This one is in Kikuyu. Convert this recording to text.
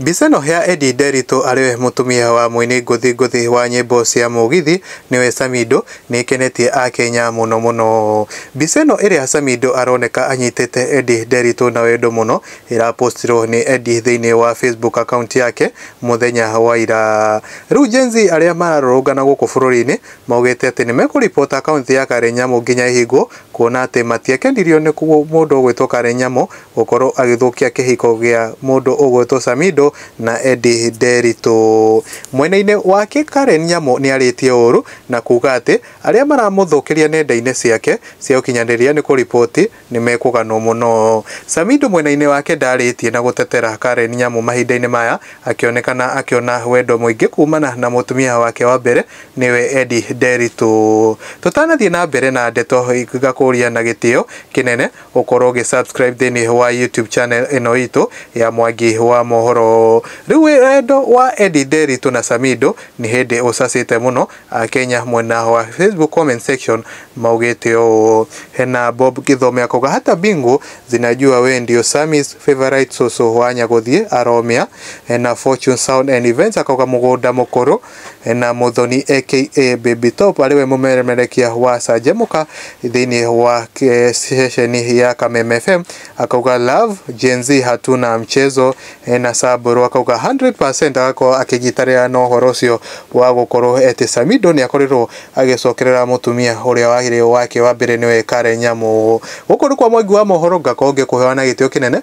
Mbica ĩno ya Eddie Nderitu arĩ we mũtumia wa mũini ngũthi ngũthi wa nyĩmbo cia mũgithi nĩwe Samido, nĩ ĩkenetie Akenya mũno mũno. Mbica ĩno ĩrĩa Samido aroneka anyitĩte Eddie Nderitu na wendo mũno, ĩrapostirwo nĩ Eddie thĩinĩ wa Facebook account yake mũthenya wa ira. Rĩu Gen-Z arĩa mararũrũngana gũkũ bũrũri-inĩ maugĩte atĩ nĩ mekũ report account ya Karen Nyamu nginya ĩhingwo, kuona atĩ matiakenirio nĩ mũndũ gwĩtwo Karen Nyamu gũkorwo agĩthũkia kĩhiko gĩa mũndũ ũgwĩtwo Samido na Eddy Nderitu. Mwena-inĩ wake Karen Nyamũ nĩarĩtie ũũru na kuga atĩ arĩa maramũthũkĩria nenda-inĩ ciake cia ũkinyanĩria nĩ kũriboti nĩmekũganwo mũno. Samido mwena-inĩ wake ndarĩtie na gũtetera Karen Nyamũ mahinda-inĩ maya akĩonekana akĩona wendo mũingĩ kumana na mũtumia wake wa mbere nĩwe Eddy Nderitu. Tũtanathiĩ na mbere na ndeto ngakũria na gĩtĩo kĩnene gũkorwo ũgĩ subscribe thĩinĩ wa YouTube channel ĩno itũ ya Mwangi wa Mohoro. Rĩu wendo wa Eddie Nderitu na Samido nĩ hĩndĩ ũcacĩte mũno, Akenya mwena wa Facebook comment section maugĩte ũũ. Hena Bob Gĩthome akauga hata bingu zinajua we ndio Sammy's favorite soso wa Nyagũthiĩ aromĩa. Hena Fortune Sound and Events akauga mũgũnda mũkũrũ na Mũthoni aka Baby Top arĩ we mũmeremerekia wa Canjamũka thĩinĩ wa eh, ceceni ya Kameme FM akauga love Gen Z hatuna mchezo eh, na Sabro akauga 100% agakorwo akĩnyitanĩra na ũhoro ũcio wa gũkorwo atĩ Samido nĩ akorirwo agĩcokerera mũtumia ũrĩa wagĩrĩirwo wake wa mbere nĩwe Karen Nyamu gũkũ nĩ kwa mwangi wa mohoro ngakorwo ngĩkũhewa na gĩtĩo kĩnene